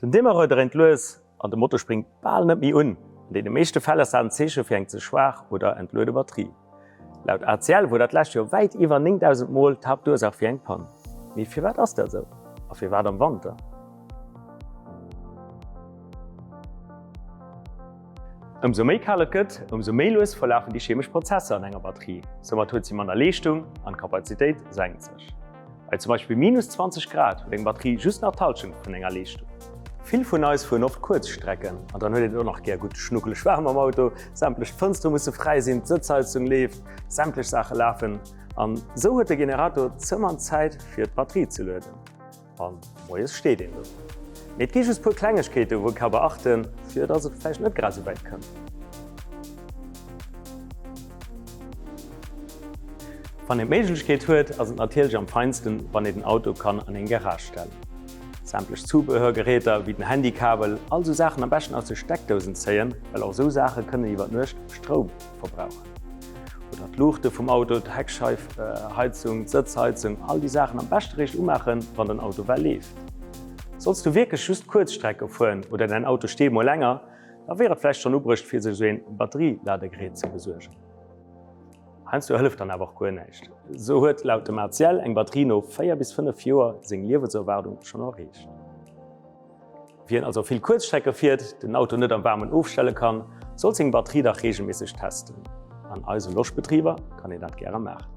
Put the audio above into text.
Den Demarreur dréint lues an de Motor spréngt bal net méi un. An deene meeschte Fäll ass dat en Zeeche fir eng ze schwaach oder entluede Batterie. Laut ACL wor dat lescht Joer wäit iwwer 9.000 Mol d'Haaptursach fir eng Pann. Mee firwat ass dat esou? A firwat am Wanter? Ëmsou méi kal et gëtt, ëmsou méi lues verlafen déi chemesch Prozesser an enger Batterie. Soumat huet si manner Leeschtung an d'Kapazitéit senkt sech. Bei zum Beispill minus 20 Grad huet eng Batterie just nach d'Halschent vun enger Leeschtung. Vill vun eis fueren oft kuerz Strecken an dann huet een et och nach gär gutt schnuckeleg waarm am Auto. Sämtlech Fënstere musse fräi sinn, d'Sëtzheizung leeft, sämtlech Saache lafen an esou huet de Generator zëmmer Zäit fir d'Batterie ze lueden a moies steet een do. Mee et gi just puer Klengegkeete wou ee ka beachten, fir dass et vläicht net grad esou wäit kënnt. Wann een d'Méiglechkeet huet, ass et natierlech am feinsten, wann ee den Auto kann an eng Garage stellen. Sämtlech Zubehörgeräter, wéi den Handykabel, all sou Saachen am beschten aus de Steckdousen zéien, well och sou Saache kënnen iwwer d'Nuecht Stroum verbrauchen. Oder d'Luuchte vum Auto, d'Heckscheif, Heizung, d'Sëtzheizung, all déi Saachen am beschte réischt umaachen, wann den Auto well leeft. Solls du wierklech just Kuerzstrecke fueren oder däin Auto steet mol länger, Da wier et vläicht schonn ubruecht fir sech esou een Batterie-Ladegerät ze besuergen. Heiansdo hëlleft dann awer och guer näischt. Esou huet laut dem ACL eng Batterie no 4 bis 5 Joer seng Liewenserwaardung schonn erreecht. Wien also vill Kuerzstrecke fiert, den Auto net am Waarmen ofstelle kann, sollt seng Batterie dach reegelméisseg testen. An eise Loschbetriber kann een dat gäre maachen.